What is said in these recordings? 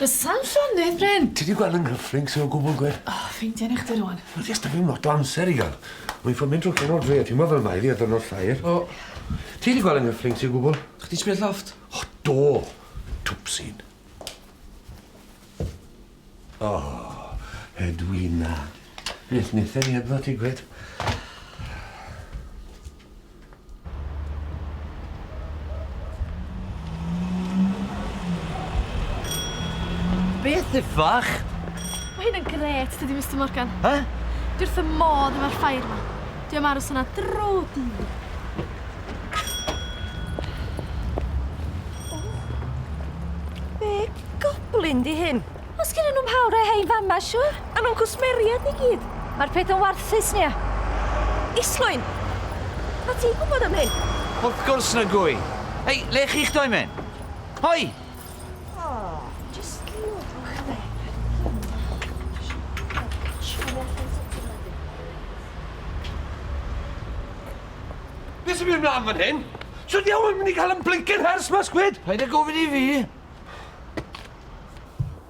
Does sam llonydd, Bryn. Ti di gweld yn nghyffring sy'n o gwbl gwir? O, oh, fi'n denu chdi rwan. Wel, fi'n stafio lot o amser i gael. Mae'n ffyn mynd drwy ffyn o'r dre, ti'n mo fel mae fi a dyn o'r llair. O, ti di gweld yn nghyffring sy'n o gwbl? Chdi sbio lloft? O, do. Twpsyn. O, Edwina. Beth wnaethon ni hebddo ti gwed? Beth iffach? Mae hyn yn gret, dydy Mr Morgan. Ha? Dwi wrth y modd efo'r ffair yma. Dwi am aros yna dro dydd. Goblin di hyn. Os gyda nhw'n hawl rhoi hein fama, siwr? A nhw'n cwsmeriad ni gyd. Mae'r peth yn warthus, Nia. Islwyn! Mae ti'n gwybod am hyn? Wrth gwrs na gwy. Hei, le chi'ch doi men? Hoi! Oh, just look there. Beth sy'n mynd mlaen fan hyn? Sut diawl yn mynd i cael yn blincin hers mas gwyd? Paid a gofyn i fi.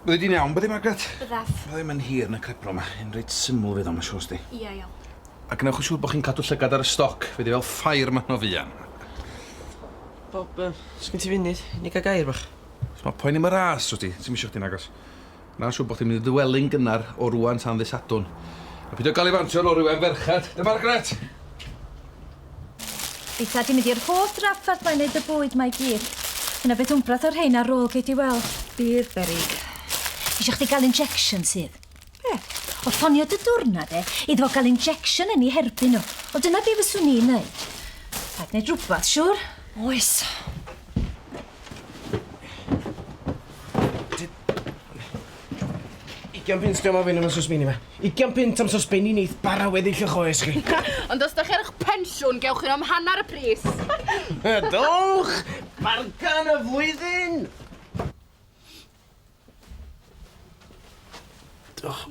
Byddai di'n iawn byddi Margaret? Byddaf. Ma' ddim yn hir na cripro ma. Yn reit syml fydd o ma' siŵr sti. Ia iawn. A gwnewch yn siŵr bo' chi'n cadw llygad ar y stoc fe 'di fel ffair ma' hwna fuan. Bob yy sgin ti funud i ni ga'l gair bach? Os ma' poeni am y ras w't ti ti'm isio chdi'n agos. Mae'n siwr bod chdi'n mynd i ddywelu'n gynnar o rŵan tan ddydd Sadwrn. A peidio galifantiau lori wefr ferched, de Margaret? Eitha di mynd i'r holl drafferth mae'n neud y bwyd mae gyd. Yna beth wmbrath o'r rhein ar ôl gei di weld. Bydd berig. Eisiau chdi gael injection sydd? Be? O ffonio dy dwrna de, iddo fo gael injection yn ei herbyn nhw. O dyna be fyswn i'n neud. Rhaid neud rhywbeth, siwr? Oes. Ugian punt diom o fyn am y sosbini ma. Ugian punt am sosbini neith bara weddill y choes chi. Ond os da chi ar ych pensiwn, gewch chi am hanner y pris. Dowch! Bargan y flwyddyn! Diolch.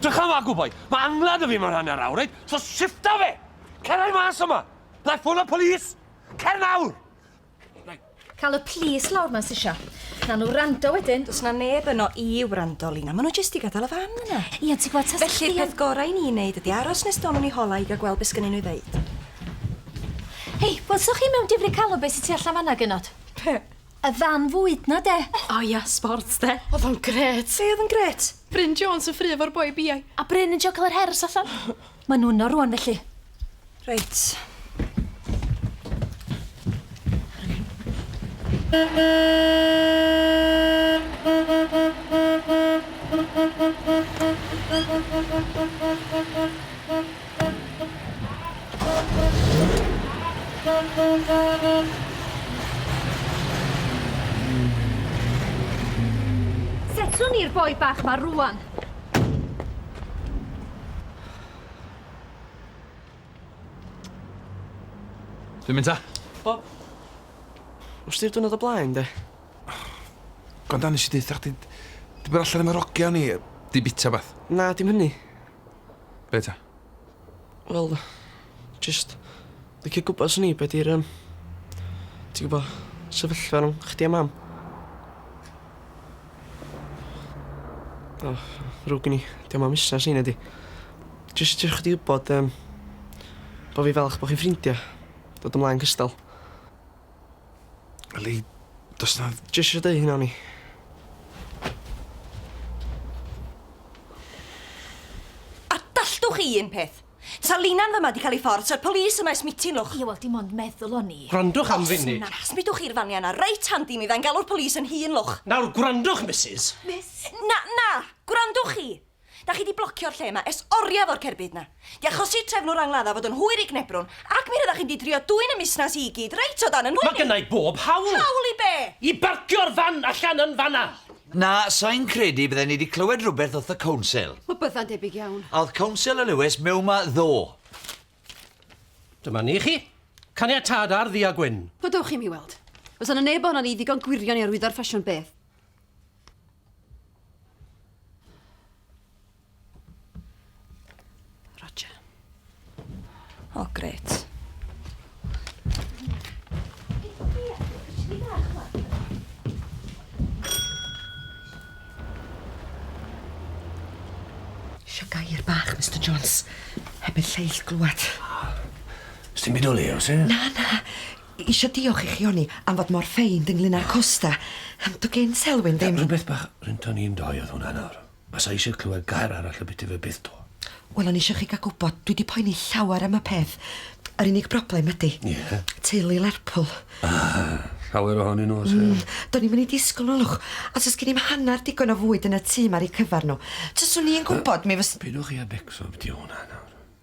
Drychama, good boy. Mae angladd y fi mewn hanner awr, reit? So shifta fe! Cerra i mas yma! Like ffôn y polis! Cer nawr! Cael y plis lawr mas isio. Na nhw rando wedyn. Does na neb yno i wrando, Lina. Maen nhw jyst i gadael y fan yna. Ie, ond ti'n gwybod, tasech chdi Felly'r peth gorau i ni wneud ydy aros nes dono ni hola i gael gweld beth sgynnyn nhw i ddeud. Hei, welsoch chi mewn difri calon beth sydd tu allan fanna, genod? Be? Y fan fwyd na de? O ia, sports de. Oedd o'n gret. Be oedd yn gret? Bryn Jones yn ffru efo'r boi biau. A Bryn yn joglo'r hers allan. Maen nhw yno rwan felly. Reit. Reit. Setlwn ni'r boi bach ma rŵan. Dwi'n mynd ta. Bob. Wrth di'r dwrnod o blaen de? Gwranda nes i deutha chdi, di bod allan am yr ogia o'n i, di bita bath. Na dim hynny. Be ta? Wel, jyst licio gwybod swn i be' 'di'r yym ti'n gwbo sefyllfa rhwng chdi a mam. O, ddrwg gen i, 'di o'm am fusnes i na 'di? Jyst isio chdi wybod yym bo' fi falch bo' chi'n ffrindia, dod ymlaen cystal. Wel i... do's 'na... Jyst isio deu' hynna o'n i. A dalltwch chi un peth? Sa Lina'n fyma 'di ca'l 'i ffordd, sa'r police yma ers mitin, lwch. Ie, wel dim ond meddwl o'n i. Gwrandwch am funud. Os na, smudwch chi'r fania 'na reit handi i mi, fyddai'n galw'r police 'yn hun, lwch. Nawr, gwrandwch, Misus. Miss? Na, na! Gwrandwch chi! Dach chi 'di blocio'r lle 'ma ers oriau fo'r cerbyd 'na. 'Di achosi trefnwr angladdau fod yn hwyr i gnebrwn, ac mi ryddach chi'n 'di trio dwyn y musnas i i gyd reit o dan 'y nhwyn i! Mae gynna i bob hawl! Hawl i be? I barcio'r fan allan yn fan 'na! Na, sai'n credu bydden ni 'di clywed rhywbeth wrth y Council. Wel, bydda'n debyg iawn. A oedd Council y Lewis mewn 'ma ddo? Dyma ni chi. Caniatâd ar ddu a gwyn. Wel, dewch i mi weld. Os o' 'na neb ohonon ni ddigon gwirion i arwyddo'r ffasiwn beth? Roger. O, oh, gret. Sio gair bach, Mr Jones. Heb i'r lleill glwad. Ys ti'n byd o le, os e? Na, na. Isio diolch i chi oni am fod mor feind ynglyn â'r costa. Dy gyn Selwyn ddim. Rhywbeth bach rynton ni'n doi oedd hwnna nawr. Basa isio clywed gair arall y byty fe byth to. Wel o'n isio chi ga gwbod dwi di poeni llawer am y peth. Yr unig broblem ydi. Ie? Teulu Lerpwl. Ah! Llawer ohonyn nhw o's e? Do'n i'm yn ei disgwl yn olwg. Os o's gen i'm hannar digon o fwyd yn y tŷ ma ar eu cyfar nhw. Taswn i yn gwbod mi fys-. Peidiwch chi a becso am byti o hwnna nawr.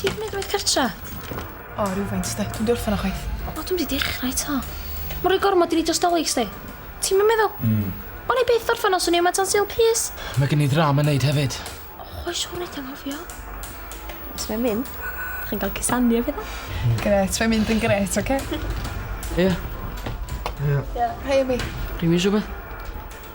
Ti'n gwneud gwaith cartra? O, oh, rhywfaint, sti. Dwi'n diwrthyn o chwaith. O, dwi'n wedi dechrau to. Mae'n rhoi gormod i ni dros dolyg, sti. Ti'n mynd meddwl? Mm. O'n i byth orffen os o'n i yma tan syl pys. Mae gen i ddram yn neud hefyd. O, oh, oes o'n edrych anghofio. Os mae'n mynd, chi'n cael cysanu efo dda. Hmm. Gret, mae'n mynd yn gret, oce? Ie. Ie. Hei, Amy. Rwy'n mynd rhywbeth?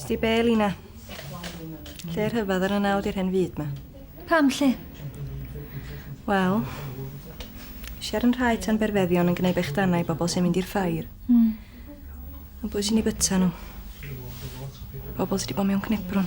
Sti be, Lina? Lle rhyfedd ar y nawd i'r hen fyd ma? Pam lle? Wel, siar yn rhai tan berfeddion yn gwneud bechdanau i bobl sy'n mynd i'r ffair. Mm. Ond pwy sy'n ei byta nhw? Pobl sydd wedi bod mewn cnebrwn.